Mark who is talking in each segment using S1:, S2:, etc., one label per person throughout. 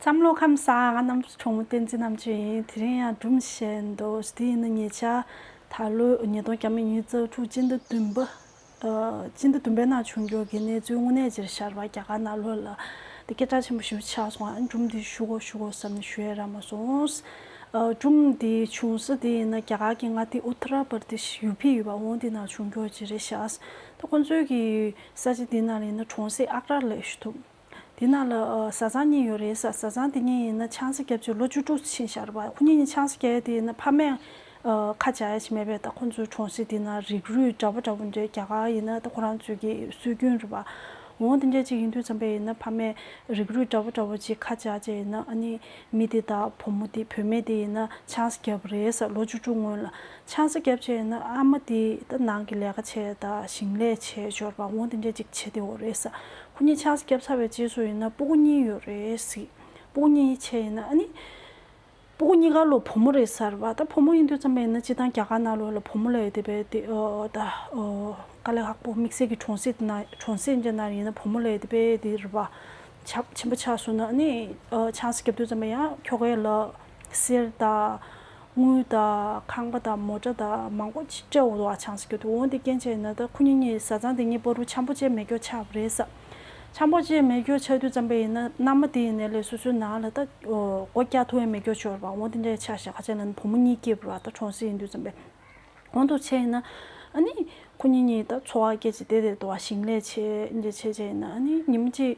S1: བསམ་བློ་ཁམས་བཟང་ང་རྣམ་རིག་གྲོགས་མོ་བསྟན་འཛིན་རྣམ་དཔྱོད་ཡིན་དེ་རིང་ཡང་སྒྲུང་བཤད་འདུག་དེ་ཡིན་ན་ཉེ་ཆར་ད་ལོའི་ཉིས་སྟོང་གྱ་མི་གཉིས་རྩ་དྲུག་སྤྱི་ཟླ་བདུན་པ། སྤྱི་ཟླ་བདུན་པའི་ནང་བྱུང་འགྱུར་གྱི་གནས་ཚུལ་དངོས་གནས་ཅེར་ཤར་བ་རྒྱ་གར་ནག་ལོ་ལ་དེ་སྐད་གྲགས་ཆེན་པོ་ཞིག་ཆགས་སོང་ཨང་སྒྲུང་འདི་ཞུ་དགོ་ཞུ་དགོ་བསམ་ནས་ཞུ་ཡས་རག་མ་སོང། སྒྲུང་འདི་བྱུང་ས་དེ་ཡིན་ན་རྒྱ་གར་གྱི་མངའ་སྡེ Uttara Pradesh ཡུ་ཕི་ཡོད་པ་འོང་དེ་ནང་བྱུང་འགྱུར་ཅི་རེད་བཞག་ད་ཁོང་ཚོའི་གི་ས་ཆ་དེ་ནང་ཡིན་ན་གྲོང་གསེབ་ཨག་ར་ལས་ཞུ་ཐུབ། དེ་ན་ལ་བཟའ་ཚང་གཉིས་ཡོད་རེད་བཟའ་ཚང་དེ་གཉིས་ཡིན་ན་ཆང་ས་བརྒྱབ་རྗེས་ལོ་བཅུ་དྲུག་ཕྱིན་ཤར་བ་ཁོ་གཉིས་ནི་ཆང་ས་བརྒྱབ་ཡས་དེ་ཡིན་ན་ཕ་མས་ཁ་འབྱར་ཡས་ཆེ་མེད་པས་ད་ཁོ་ཚོའི་གྲོང་གསེབ་དེ་ན་རིགས་རུས་འདྲ་པོ་འདྲ་པོ་འདུས་རྒྱ་གར་ཡིན་ན་ད་ཁོ་རང་ཚོས་ཀྱི་སྲོལ་རྒྱུན་རེད་བ། འོང་དེ་འདྲས་ཅིག་ཡིན་དུས་འཚམ་པས་ཡིན་ན་ཕ་མས་རིགས་རུས་འདྲ་པོ་འདྲ་པོ་ཅིག་ཁ་འབྱར་རྗེས་ཡིན་ན་ཨ་ནི་མི་དེ་དང་བུ་མོ་དེ་བུད་མེད་དེ་ཡིན་ན་ཆང་ས་བརྒྱབ་རེད་བཟའ་ལོ་བཅུ་དྲུག་སྔོན་ལ་ཆང་ས་བརྒྱབ་རྗེས་ཡིན་ན་ཨ་མ་དེ་ད་ནང་གི་ལས་ཀ་བྱས་དང་ཞིང་ལས་བྱས་འབྱོར་བ་འོང་དེ་འདྲས་ཅིག་བྱས་དེ་འོ་རེད་བཟའ་ཁོ་གཉིས་ཆགས་སྐྱབས་ཚར་བའི་རྗེས་སུ་ཡིན་ན་སྤུ་གུ་གཉིས་ཡོད་རེད་གཟིགས། སྤུ་གུ་གཉིས་ཡིད་ཆེས་ཡིན་ན་ཨ་ནི། སྤུ་གུ་གཉིས་ཀ་ལོ་བུ་མོ་རེད་ཟེར་བ་ད་བུ་མོ་ཡིན་དུས་ཙམ་ལ་ཡིན་ན་སྤྱི་དང་རྒྱ་གར་ནང་ལོ་ལ་བུ་མོ་ལ་ཡོད་དེ་བས་དེ་ད་དཀའ་ལས་ཁག་པོ་དམིགས་བསལ་གྱི་གྲོང་གསེབ་ན་གྲོང་གསེབ་ཅན་ན་ཡིན་ན་བུ་མོ་ལ་ཡོད་དེ་བས་དེ་རེད་པ། ཆགས་ཆེན་པོ་ཆགས་སོང་ན་ཨ་ནི། ཆགས་སྐྱབས་དུས་ཙམ་ལ་ཡང་ཁྱོ་གས་ལབ། ཟེར་ད། དངུལ་དང་ཁང་པ་དང་མོ་ཏྲ་དང་མང་པོ་སྤྲད་འོང་དུ་བ་ཆང་ཟེར་གྱི་འདུག་འོང་དེ་སྐྱེན་བྱས་ན་ད་ཁུ་ཉིན་གཉིས་བཟའ་ཚང་དེ་གཉིས་པོ་རུ་ཆང་པོ་བཅད་མེ་སྒྱོགས་ཆགས་པ་རེད་ས་ཆང་པོ་བཅད་མེ་སྒྱོགས་ཆགས་དུས་རྩམ་པ་ཡིན་ན་མནའ་མ་དེ་ཡིན་ནས་ལས་སོ་སོའི་ནང་ལ་ད་སྒོ་སྐྱ་ཐུ་བས་མེ་སྒྱོགས་བྱོར་བ་འོང་དེ་འདྲས་ཆགས་ཤག་ཁ་ཆེ་ལ་ནི་བུ་མོ་གཉིས་སྐྱེས་པོ་ར་ད་གྲོང་གསེབ་ཡིན་དུས་རྩམ་པའི་འོང་དུ་བྱས་ཡིན་ན་ཨ་ནི་ཁུ་ཉིན་གཉིས་ད་འཚོ་བ་སྐྱེལ་ཅིག་དེ་དེར་དུ་བ་ཞིང་ལས་བྱེད་འདྲས་བྱས་བྱས་ཡིན་ན་ཨ་ནི་ཉིན་མ་གཅིག།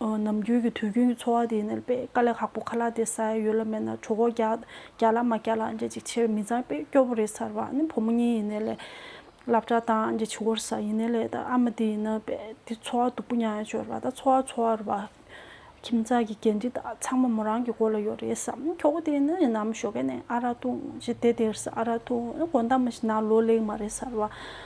S1: ནམ་རྒྱུན་གྱི་དུས་རྒྱུན་གྱི་འཚོ་བ་དེ་ནི་དཔེ་དཀའ་ལས་ཁག་པོ་ཁ་ལག་དེ་ས་ཡ་ཡོད་ལ་མེད་ན་གྲོ་གོག་རྒྱག་ལ་མ་རྒྱག་ལ་འཇལ་ཅིག་ཆེར་མི་མཛངས་པས་སྐྱོ་པོ་རེད་ཟེར་བ་ནི་བུ་མོ་གཉིས་ཡིན་ནའི་ལས། སླབ་གྲྭ་དང་འཇལ་ཕྱི་གོར་ས་ཡིན་ནའི་ལས་དང་ཨ་མ་དེ་ཡིན་ནའི་དཔེ་དེ་འཚོ་བ་སྡུག་པོ་མྱངས་ཡ་སྤྱོད་ར་དང་འཚོ་བ་འཚོ་བར་བ། ཁྱིམ་ཚང་གི་འགན་འཁྲི་དག་ཚང་མ་མོ་རང་གི་མགོ་ལ་ཡོད་རེད་བསམ་ཁྱོ་གོ་དེ་ནི་ཡིན་ནམ་ཞོ་ཁས་ནས་ཨ་ར་ཐུང་ཞེས་དེ་དེར་ས་ཨ་ར་ཐུང་གོ་འདའ་མ་ཞིག་ན་ལོ་ལེགས་མ་རེད་ཟེར་བ།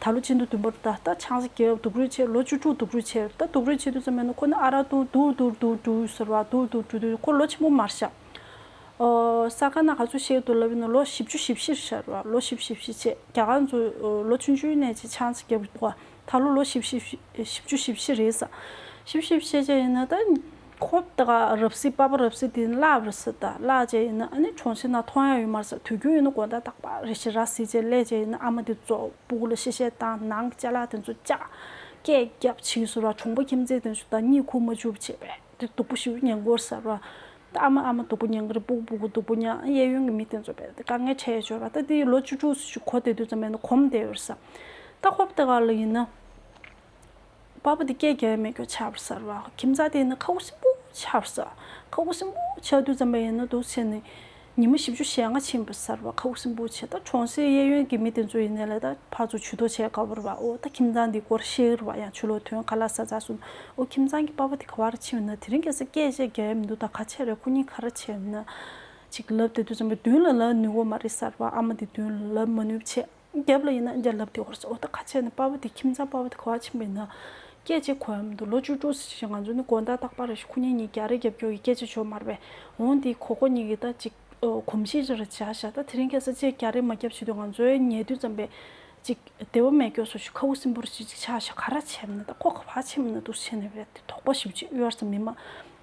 S1: ད་ལོ་ཆེན་དུ་བདུན་པར་ད་ལྟ་ཆང་ས་རྒྱལ་བ་དུག་རུས་ཆེར་ལོ་བཅུ་དྲུག་དུག་རུས་ཆེར་ད་དུག་རུས་ཆེ་དུས་ཙམ་མེད་ན་ཁོ་ནི་ཨ་རག་དུག་དུག་དུག་དུག་དུག་ཟེར་བ་དུག་དུག་དུག་དུག་ཁོ་ལོ་ཆེན་པོ་མར་ཤ་ཨོ་ས་ག་ན་ག་ཚོད་བཤད་དུ་ལབ་ཡོད་ན་ལོ་བཞི་བཅུ་བཞི་བཞིར་ཤར་བ་ལོ་བཞི་བཞི་བཞི་བྱས་རྒྱ་གར་ཚོ་ལོ་བཅུ་བཅུའི་ནས་ཆེ་ཆང་ས་རྒྱལ་བ་དུག་ཨ་ད་ལོ་ལོ་བཞི་བཞི་བཞི་བཅུ་བཞི་བཞི་རེད་ས་བཞི་བཞི་བཞི་བྱས་ཡིན་ན་ད། ཁོ་བདག་རབ་སྲིད་དཔའ་བོ་རབ་སྲིད་དེ་ནི་བླ་བ་རི་སྲིད་དང་བླ་བྱེད་ཡིན་ནི་ཨ་ནི་གྲོང་ཁྱེར་ན་མཐོང་ཡང་ཡོད་མ་རེད་ས་དུས་རྒྱུན་ཡིན་ནི་དགོན་ཟླ་དག་པ་རེ་ཞིག་ར་སྲིད་ཅེས་ལས་བྱེད་ཡིན་ནི་ཨ་མ་དེ་ཙོག་པུ་གུ་ལ་ཤེས་བཤད་དང་ནང་གི་བཅའ་ལག་དེ་ཚོ་བཅའ་སྐད་རྒྱབ་ཕྱིས་སུ་ར་གྲོང་པ་ཁྱིམ་མཚེས་དེ་ཚོ་དང་གཉིད་ཁུག་མ་འཇུག་པ་བྱས་པས་དེ་སྡུག་པོ་ཞིག་ཡོད་ཉེན་ཀོར་ཟེར་བ། ད་ཨ་མ་ཨ་མ་སྡུག་པོ་ཉེན་ཀི་རི་སྤུག་སྤུག་སྡུག་པོ་ཉང་གཡས་གཡོན་གྱི་མི་དེ་ཚོ་བས་དེ་དཀའ་ངལ་འཕྲད་ཡོད་བྱས་པ་ད་དེ་ཡི་ལོ་བཅུ་དྲུག་སུ་ཞིག་གོ་བདེ་དུས་ཙམ་མེད་ན་གོམས་བསྡད་ཡོད་རེད་བསམ། ད་ཁོ་བདག་ལ་ཡིན་ན། བ་པོ་དེ་སྐད་རྒྱལ་བའི་མེ་སྒྱོགས་ཆར་བ་ཟ་རུ་བའོ་ཁྱིམ་བཟའ་དེ་ནི་ཁ་བོ་སྲིན་པོ་ཆར་བ་ཟ་ཁ་བོ་སྲིན་པོ་ཆར་དུས་འཛམ་པ་ཡིན་ན་དུས་ཚེས་ནི་ཉི་མ་བཞི་བཅུ་ཞེ་ལྔ་ཕྱིན་པ་ཟ་རུ་བ་ཁ་བོ་སྲིན་པོ་ཆེ་ད་གྲོང་སའི་གཡས་གཡོན་གྱི་མི་དེ་ཚོ་ཡི་ནས་ལ་ད་ཕག་ཚོ་ཆུ་དོ་བྱས་ག་བོ་རུ་བའོ་ད་ཁྱིམ་བཟང་དེའི་སྐོར་བཤད་རུ་བ་ཡང་ཆུ་ལོག་དོན་ག་ལ་ཟ་ཟ་སུ་འོ་ཁྱིམ་བཟང་གི་བ་པོ་དེ་ག་བ་རུ་ཕྱིན་བ་ན་དེ་རིང་གེ་སར་སྐད་བཤད་རྒྱལ་ཡ་མི་འདུག་ད་ག་ཆེ་རེད་ཁོ་གཉིས་ག་ར་བྱས་ན་ཅིག་ལབ་དེ་དུས་འཛམ་པ་བདུན་ལ་ལབ་ནུས་བོ་མ་རེད་ཟ་རུ་བ་ཨ་མ་དེ་བདུན་ལ་ལབ་མ་ནུས་བྱས། རྒྱབ་ལ་ཡིན་ན་རྒྱ་ལབ་དེ་ཧོར་ས་འོག་ཏུ་ཁ་ཕྱེ་ནས་དཔའ་བོ་དེ་ཁྱིམ་ཚང་དཔའ་བོ་དེ་ཁ་བ་ཆེན་པོ་ཡིན་ན། སྐད་ཅིག་གོ་ཡ་མི་འདུག་ལོ་བཅུ་དྲུག་ཟེར་ཞིང་ང་ཚོ་ནི་དགོན་བདག་སྟག་པ་ར་ཤི་ཁུ་ཉེ་གཉིས་རྒྱ་རི་རྒྱབ་སྐྱོར་གྱི་སྐད་ཆ་བྱོ་མར་བས་འོང་དེའི་གོ་གོ་གཉིས་ཀྱི་ད་ཅིག་གོམས་གཤིས་རེ་རེ་བྱ་བཞག་ད་དེ་རིང་ཁྱེད་ས་བཅད་རྒྱ་རི་མ་རྒྱབ་བྱེད་དུས་ང་ཚོའི་ཉལ་དུས་ཙམ་པས་ཅིག་དེ་བ་མེད་སྐྱོ་སོ་ཞིག་ཁ་བུ་སིམ་པོ་རེ་བྱེད་ཅིག་བྱ་བཞག་ག་ར་བྱས་མིན་ད་ཁོ་ཁ་བ་ཆེན་པོ་ན་འདུག་བྱས་ནས་བས་དེ་དོགས་པ་ཞིག་བྱེད་དབྱར་ས་མི་མ་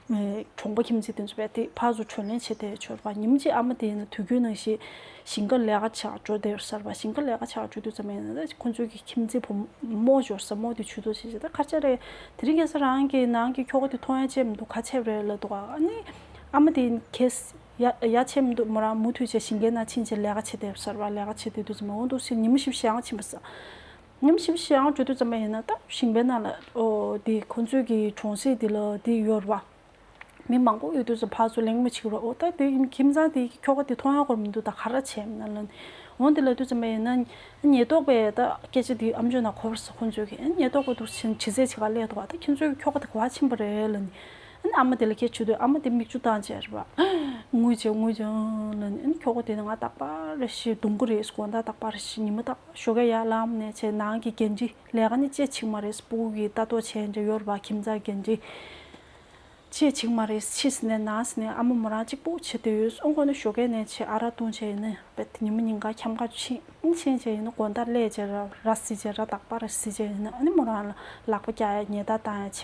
S1: གྲོང་པ་ཁྱིམ་མཚེས་དེ་ཚོ་བས་དེ་ཕར་ཚུར་བྱོལ་ལེན་བྱེད་དེ་བྱོལ་བ་ཉིན་གཅིག་ཨ་མ་དེ་ཡིན་དུས་རྒྱུན་ནང་བཞིན་ཞིང་ཁ་ལས་ཀ་བྱ་འགྲོ་དེ་གསར་པ་ཞིང་ཁ་ལས་ཀ་བྱ་འགྲོ་དུས་ཙམ་ཡིན་ན་ཁོ་ཚོའི་ཁྱིམ་མཚེས་བུ་མོ་འབྱོར་ས་མོ་དེ་ཆུ་ཚོད་བྱེད་བྱེད་དེ་ཁ་ཆེ་རེད་དེ་རིང་ངེད་ས་རང་གི་ནང་གི་ཁྱོ་ག་དེ་ཐོ་ཡང་བཅད་མི་འདུག་ཁ་ཆེ་རེད་ལབ་འདུག་ཨ་ནི་ཨ་མ་དེ་ཡིན་ཁེས་ཡ་ཆེ་མི་འདུག་མོ་རང་མུ་མཐུད་བྱས་ཞིང་ཁའི་ནང་ཕྱིན་རྗེས་ལས་ཀ་བྱེད་དེ་གསར་པ་ལས་ཀ་བྱེད་དེ་དུས་ཙམ་འོང་འདུག་ཕྱིར་ཉིན་མོ་བཞི་བཞི་ཡང་ཕྱིན་པ་ཟ་ཉམས་ཞིབ་བྱེད་ཨང་བཅུ་དྲུག་ཙམ་མ་ཡིན་ན་ད་ཞིང་པའི་ནང་ལ་འདི་ཁོང་ཚོས་ཀྱི་གྲོང་གསེབ་འདི་ལ་འདི་ཡོད་རེད་པ། མི་མང་པོ་ཡོད་དུས་སུ་ཕར་སུ་གླེང་མོ་བྱེད་རོགས་ཨོ་ད་དེ་ཁྱིམ་ཚང་དེ་ཁྱོ་ག་དེ་མཐོང་ཡང་ཁོར་མི་འདུག་ད་ག་ར་བྱེད་མིན་ན་འོང་འདི་ལ་དུས་ཙམ་མ་ཡིན་ན་ཉེས་རྟོག་པས་ད་སྐད་ཆ་འདི་ཨམ་ཆོས་ནང་གོ་ཁོང་ཚོས་ཀྱི་ཉེས་རྟོག་པ་འདུག་བྱེད་ཚད་ཆེ་ག་ལས་འདུག་བ་ད་ཁྱིམ་ཚོས་ཀྱི་ཁྱོ་ག་དེ་ག་བ་ཕྱིན་པ་རེད་ལ་ནི་ཨ་མ་དེ་ལ་སྐད་ཆོས་དུས་ཨ་མ་དེ་མིག་ཆུ་བཏང་བྱས་རེད་པ། ངུས་བྱས་ངུས་བྱས་ཨང་ལ་ནི་ཨ་ནི་ཁྱོ་ག་དེ་ནི་ང་རྟག་པ་རེད་ཤི་སྡུག་མགོ་རེད་ཤི་དགོངས་དག་རྟག་པ་རེད་ཤི་ཉི་མ་རྟག། ཞོ་ག་ཡ་ལམ་ནས་བྱས་ནང་གི་འགན་འཁྲི་ལས་ཀ་ནི་ཅེ་ཆིག་མ་རེས་སྤུ་གུ་གི་ལྟ་རྟོག་བྱས་འབྲས་ཡོར་བ་ཁྱིམ་ཚང་འགན་འཁྲི། ཅེ་ཆིག་མ་རེས་ཕྱི་སི་ནས་ནང་སི་ནས་ཨ་མ་མོ་རང་གཅིག་པུ་བྱེད་དུ་ཡོད་སོང་ཁོ་ནི་ཞོ་གས་ནས་བྱས་ཨ་ར་ལྟུང་བྱས་ཡིན་ནི་བེད་དེ་ཉི་མ་ཉིན་འགའ་འཁྱམ་ཁ་ཕྱིན་ཕྱིན་བྱས་ཡིན་ནི་དགོན་དར་ལས་བྱས་ར་སི་བྱས་ར་དག་པ་ར་སི་བྱས་ཡིན་ནི་ཨ་ནི་མོ་རང་ལ་ལག་པ་བཀྱག་ཡ་ཉེ་ད་ཏང་ཡ་བྱས་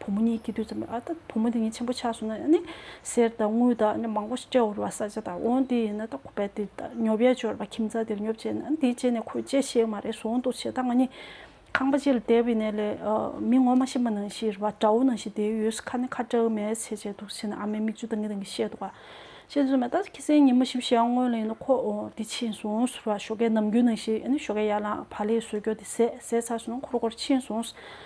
S1: བུ་མོ་གཉིས་སྐྱིད་དུས་ཙམ་ལ་ཨ་ད་བུ་མོ་འདི་གཉིས་ཆེན་པོ་ཆགས་སོང་ན་ཡང་ནི་གསེར་དང་དངུལ་དང་ནི་མང་པོ་ཞིག་སྤྲད་འོར་བ་ས་ཆ་དང་འོང་དེ་ཡིན་ན་ད་ཁོ་པས་དེ་ད་ཉོ་བས་འབྱོར་བ་ཁྱིམ་ཚང་འདིར་ཉོ་བྱས་ན་འདི་བྱས་ནས་ཁོས་བྱས་ཤེས་མ་རེད་ཟོང་དུ་བྱས་ད་ང་གཉིས་ཁང་པ་གཅིག་ལ་བསྡད་པའི་གནས་ལས་མི་ངོ་མ་ཤི་མ་ནང་བཞིན་ར་བ་བྲ་བོ་ནང་བཞིན་བསྡད་ཡོད་ས་ཁ་ནི་ཁ་བྲལ་མེད་ཚེ་བྱས་འདུག་བྱས་ན་ཨ་མའི་མིག་ཆུ་དངིལ་དངིལ་བཤད་འདུག་བཤད་རྩོད་མེད་ད་ཁྱི་སེང་ཉི་མ་བཞིན་བཞག་སྔོན་ལ་ཡིན་ན་ཁོ་འདི་ཕྱིན་སོང་ཟེར་བ་ཞོ་གས་ནམ་རྒྱུན་ནང་བཞིན་ནི་ཞོ་གས་ཡར་ལངས་བར་ལས་ཟོས་འགྱོ་དེ་ཟས་ཟས་ཚར་སོང་ན་འཁོར་འཁོར་ཕྱིན་སོང།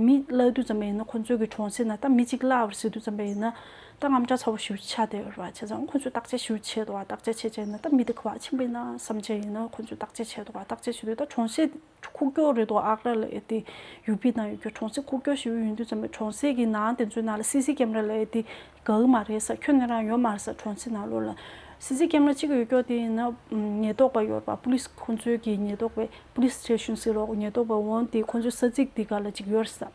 S1: མི་གླ་རྡུལ་ཙམ་ཡིན་ན་ཁོ་ཚོས་གི་གྲོང་གསེབ་ན་ད་མི་གཅིག་གླ་བར་སྲིད་རྡུལ་ཙམ་པ་ཡིན་ན་ད་རྔམ་སྐྲག་ཚ་བོ་ཞུ་ཆ་དེ་ཡོད་ར་ཆེ་ཙང་ཁོ་ཚོས་བརྟག་དཔྱད་ཞུ་ཆེད་དུ་བ་བརྟག་དཔྱད་བྱེད་ཆེད་ན་ད་མི་དེ་ཁུ་བ་ཆེན་པོ་ཡིན་ན་བསམ་ཆེད་ཡིན་ན་ཁོ་ཚོས་བརྟག་དཔྱད་ཆེད་དུ་བ་བརྟག་དཔྱད་བྱེད་དུས་ད་གྲོང་གསེབ་ཁུག་ཀྱོག་རེད་དོ་ཨག་ར་ལ་ཨེ་ཏི་ཡུག་པི་ཏང་ཡོད་ཀྱོ་གྲོང་གསེབ་ཁུག་ཀྱོག་ཞི་བོ་ཡོད་དུས་ཙམ་པའི་གྲོང་གསེབ་གི་ནང་དེ་ཚོའི་ནང་ལ་སི་སི་ཀེམ་ར་ལ་ཨེ་ཏི་གག་མ་རེད་ས་ཁྱོད་ནི་རང་ཡོད་མར་ས་གྲོང་ཚིག་ནང་ལོག་ལ། སི་ཛི་སྐེམ་ལ་གཅིག་གི་ཡོད་ཀྱོག་དེ་ཡིན་ན། ཉེས་རྟོག་པ་ཡོད་པ Police ཁོང་ཚོའི་གི་ཉེས་རྟོག་པའི Police Station ཟིག་རོགས་ཉེས་རྟོག་པ་འོང་དེ་ཁོང་ཚོའི་ས་ཚིག་དེ་ག་ལ་གཅིག་ཡོད་རེད་ས།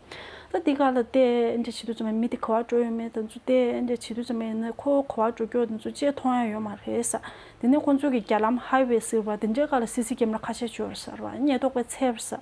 S1: ད་དེ་ག་ལ་ལྟས་འདྲ་བྱེད་དུས་ཙམ་ཡང་མི་དེ་གོ་བ་འགྲོ་ཡོད་མེད་དེ་ཚོ་ལྟས་འདྲ་བྱེད་དུས་ཙམ་ཡང་ནི་ཁོ་གོ་བ་འགྲོ་ཀྱོག་དེ་ཚོ་ཅེས་མཐོང་ཡང་ཡོད་མ་རེད་ས། དེ་ནས་ཁོང་ཚོའི་གི་རྒྱ་ལམ Highway ཟིག་རོགས་དེ་འདྲའི་ག་ལ་སི་ཛི་སྐེམ་ལ་ཁ་ཆད་གཅོད་རེད་ས་རོགས་ཉེས་རྟོག་པའི་ཚལ་རེད་ས།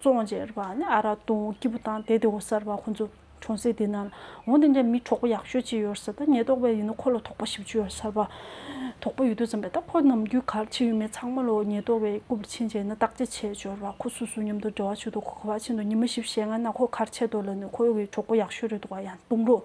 S1: བཙོང་བྱས་ར་བ་ནི་ཨ་རག་བཏུང་སྐྱིད་པོ་དང་དེ་དེ་འོ་ས་ར་བ་ཁོང་ཚོ་གྲོང་གསེབ་དེ་ན་ལ་འོང་དེ་འདྲའི་མི་གྲོགས་པོ་ཡག་ཤོས་ཅིག་ཡོད་ས་ད་ཉེས་རྟོག་པས་ཡིན་ནོ་ཁོ་ལ་དོགས་པ་བཞི་བཅུ་ཡོད་ས་ར་བ་དོགས་པ་ཡོད་དུས་ཙམ་པས་ད་ཁོ་ནམ་རྒྱུན་གར་ཕྱིན་ཡོད་མེད་ཚང་མ་ལོ་ཉེས་རྟོག་པས་སྐུ་པར་ཕྱིན་བྱས་ན་བརྟག་དཔྱད་བྱས་ཆོག་ར་བ་ཁོ་སུ་སུ་མཉམ་དུ་འབྲེལ་བ་བྱོས་འདུག་ཁོ་ག་བ་ཕྱིན་འདུག་ཉི་མ་བཞི་བཞེ་ལྔ་ན་ཁོ་གར་ཆས་འདུག་ལ་ནི་ཁོ་བའི་གྲོགས་པོ་ཡག་ཤོས་རེད་འདུག་བ་ཡང་བཏུང་རོགས།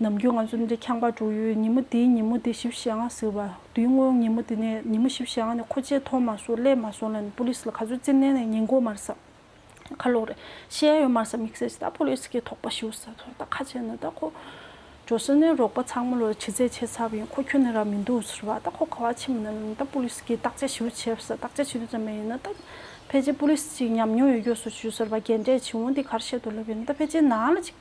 S1: ནམ་རྒྱུན་ང་ཚོ་འདི་ཁྱང་པར་འགྲོ་ཡུལ་ཉིན་མོ་འདིའི་ཉིན་མོ་འདི་ཞིབ་བཤེར་ང་ཟེར་བ་དུས་སྔོན་ཉིན་མོ་འདི་ནས་ཉིན་མོ་ཞིབ་བཤེར་ང་ནས་ཁོ་ཆས་ཐོག་མ་སོང་སླེབས་མ་སོང་ལ་ནི Police ལ་ག་ཚོད་རྩིས་མནན་ནས་ཉེན་འགོག་མར་ཟ་ཁ་ལོག་རེད་ཤེས་ཡ་ཡོད་མར་ཟ་མིག་ཟས་ཅི་ད Police གིས་དོགས་པ་ཞུ་ཟེར་ཐོག་ད་ཁ་ཆེ་ན་ད་ཁོ་འགྲོ་ཟེར་ནས་རོགས་པ་ཚང་མ་ལོ་ཕྱི་ཚེས་ཆེ་ཚབ་ཡིན་ཁོ་ཁྱོད་ནས་རག་མི་འདུག་ཟེར་བ་ད་ཁོ་ག་བ་ཕྱི་མ་ན་ལ་ནི་ད Police གིས་བརྟག་དཔྱད་ཞུ་བྱེད་ཟེར་བརྟག་དཔྱད་བྱེད་དུས་ཙམ་མ་ཡིན་ན་ད་ཕལ་ཆེར Police གཅིག་ཉམས་མྱོང་ཡོད་རྒྱུ་སོ་ཞུ་ཟེར་བ་རྒན་གྲས་བྱིས་འོང་འདི་གར་བཤད་དུ་སླེབས་ཡོད་ན་ད་ཕལ་ཆེར་ནང་ལ་ཅིག།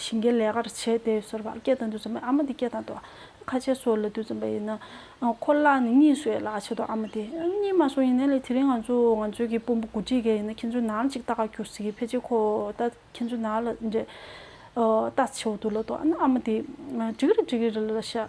S1: བྱིན་གྱིས་ལེགས་པར་བྱས་ཏེ་གསོལ་པ། སྐད་དང་དུ་ཚོམ་པའི་ཨ་མ་དེ་སྐད་དང་དོ། ཁ་ཆེ་སོགས་ལ་དུ་ཚོམ་པ་ཡིན་ན། ཁོ་ལ་ནི་གཉིས་སོས་ལ་ཆེ་དོ་ཨ་མ་དེ། གཉིས་མ་སོ་ཡིན་ན་ལས་དེ་རིང་ང་ཚོ་ང་ཚོའི་གི་དཔོན་པོ་དགུ་ཁྲི་གས་ཡིན་ན་ཁྱེད་ཚོའི་ནང་ཅིག་ལྟ་ག་གྱུར་སིག་ཕལ་ཆེ་ཁོ་ལྟ་ཁྱེད་ཚོའི་ནང་ལ་འདྲེ། ལྟ་ཆེ་བོ་དུ་ལ་དོ་ཨ་མ་དེ། འགྲིག་རེ་འགྲིག་རེ་ལ་ལ་ཤ།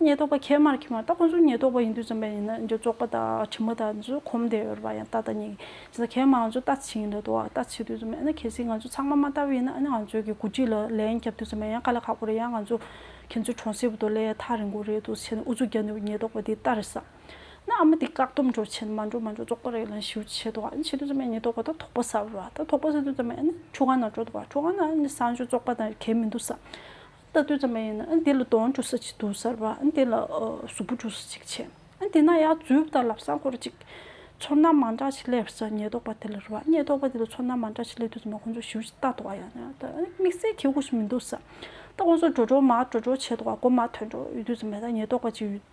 S1: ཉེས་རྟོག་པ་ཁྱད་མར་ཁྱེར་མ་ཏག་ཁོང་ཚོ་ཉེས་རྟོག་པ་ཡིན་དུས་བཙོན་པ་ཡིན་ན་འཇོག་པ་དང་ཁྲིམས་མ་དང་ཚོས་གོམས་བསྡད་ཡོད་རེད་པ་ཡང་ཏག་ཏག་ཉེས་ཀྱི་ཁྱེད་མ་ང་ཚོ་ལྟ་ཚིག་ཡིན་རེད་དོ་ལྟ་ཚིག་དུས་བཙོན་པ་ཡིན་ན་ཁྱེད་ཚིག་ང་ཚོ་ཚང་མ་མ་ལྟ་བུ་ཡིན་ན་ང་ཚོས་གི་གོ་སྒྲིག་ལ་ལན་རྒྱབ་དུས་བཙོན་པ་ཡང་ཁ་ལ་ཁག་པོ་རེད་ཡང་ང་ཚོ་ཁྱེད་ཚོའི་གྲོང་གསེབ་དུ་ལས་ཐག་རིང་པོ་རེད་དུས་བྱས་ན་ཨུ་ཚུགས་རྒྱབ་ནས་ཉེས་རྟོག་པ་དེ་ལྟ་རེད་བསམ་ན་ཨ་མ་དེ་བཀག་སྡོམ་འགྲོ་བྱས་ན་མ་འགྲོ་མ་འགྲོ་རྫོགས་པ་རེད་ལན་ཞུ་བྱས་དོ་བྱས་དུས་བཙོན་པ་ཉེས་རྟོག་པ་ད་དོག་པ་ཟ་རེད་བ་ད་དོག་པ་ཟ་དུས་བཙོན་པ་ཡང་ན་ཆུ་སྒང་ན་འགྲོ་དོ་བ་ཆུ་སྒང་ན་ནི་བཟང་སྤྱོད་རྫོགས་པ་དང་གལ་མི་འདུག་བསམ་ལྟ་སྡོད་ཙམ་མ་ཡིན་ན་འདི་ལ་དོན་འགྲོ་ས་ཅིག་འདུག་གསར་བ་འདི་ལ་གཟུགས་པོ་འགྲོ་ས་ཅིག་བྱས། དེས་ན་ཡ་རྫུས་དང་ལབ་སངས་སྐོར་ཅིག། ཚོར་སྣང་མང་དྲགས་ཤིག་སླེབས་ས་ཉེས་རྟོག་པ་དེ་ལ་རེ་བ་ཉེས་རྟོག་པ་དེ་ལ་ཚོར་སྣང་མང་དྲགས་ཤིག་སླེབས་དུས་ཚང་མ་ཁོང་ཚོ་ཞིའུ་ཅིག་ལྟ་འདོག་ཡ་ན་ད་དམིགས་བསལ་ཁྱེད་ཁུགས་སུ་མི་འདུག་ས་ད་ཁོང་ཚོ་འགྲོ་འགྲོ་མ་འགྲོ་འགྲོ་བྱས་འདུག་ག་གོ་མ་ཐོས་འགྲོ་ཡོད་དུས་ཚང་མས་ད་ཉེས་རྟོག་པ་ཅིག་ཡོད།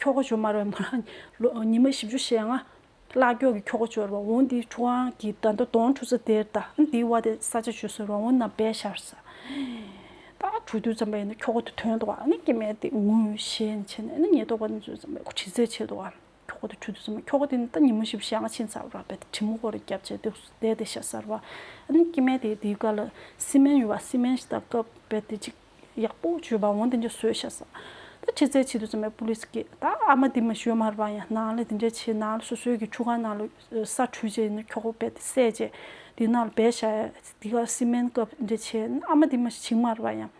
S1: ཁྱོ་ག་ཇོ་མར་བའི་མོ་རང་ཉི་མ་བཞི་བཅུ་ཞེ་ལྔ་ཀླག་ཀྱོག་གི་ཁྱོ་ག་ཇོ་ར་བ་འོང་འདི་ཁྲུ་ཨང་གི་རྡ་མདའ་དོང་ཁྲུ་ཚ་དེར་ད་འདིའི་བ་དེ་ས་ཆ་ཇོ་སོའི་རོང་བོ་རྣམས་བས་ཤར་ས་ད་དྲུག་དུས་ཙམ་པ་ཡིན་ན་ཁྱོ་ག་དུ་དོན་དུ་བ་ནི་སྐྱེ་མེད་དེ་ངུ་ཞེས་ནི་བྱེད་ནས་ནི་ཉེས་རྟོག་པ་ནི་ཙུད་ཙམ་པའི་གྲི་རྩེ་བྱེད་དུ་བ་ཁྱོ་ག་དུ་དྲུག་དུས་ཙམ་པ་ཁྱོ་ག་དེ་ནི་ད་ཉི་མ་བཞི་བཅུ་ཞེ་ལྔ་ཕྱིན་ཚར་བ་རག་པའི་དེ་གྲི་མོ་ཀོ་རེ་རྒྱབ་བཅས་དེ་སུ་བསྡད་དེ་ཤ་སར་བ་ནི་སྐྱེ་མེད་དེ་དེའི་བཀའ་ལ་སི་མན་ཡུ་བ་སི་མན་ཞེས་ད་བཀའ་བས་དེ་གཅིག། ཡག་པོ་བྱོས་པ་འོན་ཏེ་འདི་བཟོས་ཤག་ཟ། ད་ཁྱི་རྩད་ཆེ་དུས་ཙམ་ཡང་པུ་ལིས་ཀྱི་ད་ཨ་མ་དེ་མི་བྱོས་མར་པ་ཡང་ནང་ལ་དེ་འདྲ་བྱས་ནང་ལ་སོ་སོའི་གི་ཆུ་ཁང་ནང་ལ་ས་འཁྲུད་བྱས་ནས་ཁྱོག་པོ་བད་སད་བྱས་དེ་ནང་ལ་བད་ཤག་དེ་ག་སི་མན་ཀབ་དེ་འདྲ་བྱས་ཨ་མ་དེ་མི་བྱིང་མར་པ་ཡང་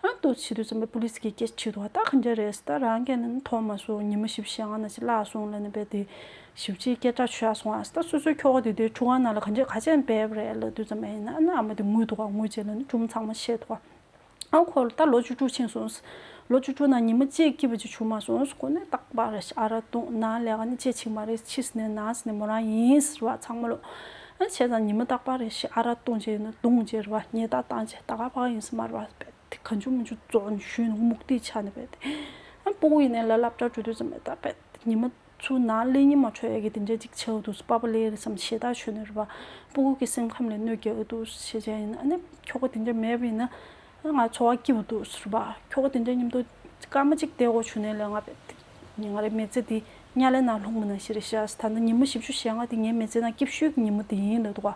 S1: ཨ་ཏོ་ཆེ་དུས་ཙམ་ཡང་པུ་ལིས་ཀྱི་སྐད་ཆེ་དུ་བ་ད་ག་འདྲ་རེད་ཟེར་ད་རང་གི་ནི་མཐོང་མ་སོང་ཉི་མ་བཞི་བཞི་ཡང་ན་ཅི་ལ་སོང་ལ་ནི་བད་དེ་ཞིབ་ཕྱིའི་སྐད་ཆ་ཤོད་ཡག་སོང་ཨ་སྟ་སོ་སོའི་ཁྱོ་ག་དེ་དུས་ཆུ་སྒང་ནང་ལ་ག་འདྲས་ག་ཅན་འབེབས་རེད་ལབ་དུས་ཙམ་ཨེ་ཡིན་ན་ཨ་མ་དེ་ངུས་འདུག་ཨ་ངུ་རྗེས་ལ་ནི་ཅུང་ཚང་མ་ཤེས་འདུག་ཨ་ཁོ་ལོ་ད་ལོ་བཅུ་དྲུག་ཕྱིན་སོང་ལོ་བཅུ་དྲུག་ནང་ཉི་མ་གཅིག་སྐྱིད་པོ་ཅིག་བྱུང་མ་སོང་ཁོ་ནི་སྟག་ལྤགས་རེད་ཨ་ར་དུང་ན་ལས་ཀ་ནི་ཅེ་ཆིག་མ་རེད་ཕྱིས་ནས་ན་ཟི་ནས་མོ་རང་ཡིན་ཟེར་བ་ཚང་མ་ལོས་བྱས་ཙང་ཉི་མ་སྟག་ལྤགས་རེད་ཨ་ར་དུང་ཅེ་ཡིན་ནོ་དུང་ཅེ་རེད་བ་ངེད་ད་ཏང་ཅེ་ད་ཀ་ལྤགས་ཡིན་ཟེར་མ་རེད་བ་དཔེ་དེ་གང་བྱུང་མི་བྱུང་གཙོ་བོ་ནི་གཞོན་ནུ་མུག་སྟེ་ཆ་ནི་བེད། སྤོ་བོ་ཡིན་ནའི་ལ་ལབ་སྐྲ་བྲོ་དུས་ཙམ་མེད་ད་བེད། ཉི་མ་ཚུ་ན་ལས་ཉི་མ་འཕྲོ་ཡ་གི་དེ་འདྲའི་ཅིག་བྱའོ་དུས་སུ་པ་པ་ལེ་རེ་བསམ་ཞེ་ད་ཆོས་ནི་རེ་བ། སྤོ་བོ་གི་སེམས་ཁམས་ལས་གནོད་རྒྱལ་འོད་དུས་སུ་ཤེས་བྱ་ཡིན་ན་ནི་ཁྱོ་ག་དེ་འདྲའི་མེད་བེད་ན། ང་འཚོ་བ་སྐྱིད་བོ་དུས་སུ་རེ་བ། ཁྱོ་ག་དེ་འདྲའི་སྙིམ་དོ་སྐར་མ་ཅིག་དེ་འོ་བྱུང་ནའི་ལས་ང་བེད། ང་རེ་མེ་ཙེ་དེ་ཉ་ལེ་ན་ལྷུང་མི་ན་ཞེ་རེ་བྱ། ད་ནི་ཉི་མ་བཞི་བཅུ་ཞེ་ལྔ་དེ་ངའི་མེ་ཙེ་ན་སྐྱིབས་ཤོད་གི་ཉི་མ་དེ་ཡིན་ལེ་དུ་ག།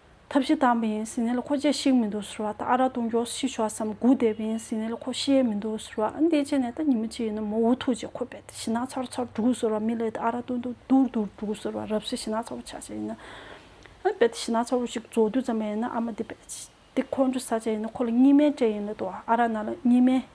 S1: ཐབས་ཤེས་དམ་པ་ཡིན་ཟིན་ནིལ་ཁོ་རྗེས་ཤིག་མི་འདུག་ཟེར་བ་དང་ཨ་ར་གཏོང་རྒྱོགས་ཤིག་ཤོག་བསམ་སྒུག་བསྡད་པ་ཡིན་ཟིན་ནིལ་ཁོ་ཤི་ཡས་མི་འདུག་ཟེར་བ་ཨ་འདི་བྱས་ནས་ད་ཉིན་མོ་གཅིག་ཡིན་ན་མོ་འུ་ཐུག་རྗེས་ཁོ་རྦད་དེ་ཤི་ནགས་ཚར་བོ་ཚར་འདུག་ཟེར་བ་མི་ལས་དེ་ཨ་ར་གཏོང་དུ་དུར་དུར་འདུག་ཟེར་བ་རབས་སུ་ཤི་ནགས་ཚ་བོ་ཆགས་བྱས་ཡིན་ན་ཨ་རྦད་དེ་ཤི་ནགས་ཚ་བོ་ཞིག་རྫོགས་དུས་ཙམ་པ་ཡིན་ན་ཨ་མ་འདི་རྦད་དེ་ཁོང་ཁྲོ་ཟ་བྱས་ཡིན་ན་ཁོ་ལ་གཉིད་སྨན་སྤྲད་ཡིན་ལེ་དོ་ཨ་ར་ན་ལ་གཉིད་སྨན།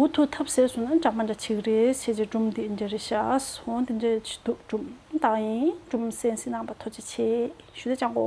S1: འུ་ཐུག་ཐབས་ཟད་སོང་ན་འདྲ་མ་འདྲ་ཆིག་རེ་བྱས་རྗེས་སྦྲུམ་དེ་འདྲེ་རེ་བཞག་སོང་དེ་འདྲེ་ཆི་འདུག་སྦྲུམ་བཏང་ཡིན་སྦྲུམ་སེན་སེན་ནང་པ་ཐོ་ཅི་ཆེ་ཞུ་དེ་ཅང་གོ།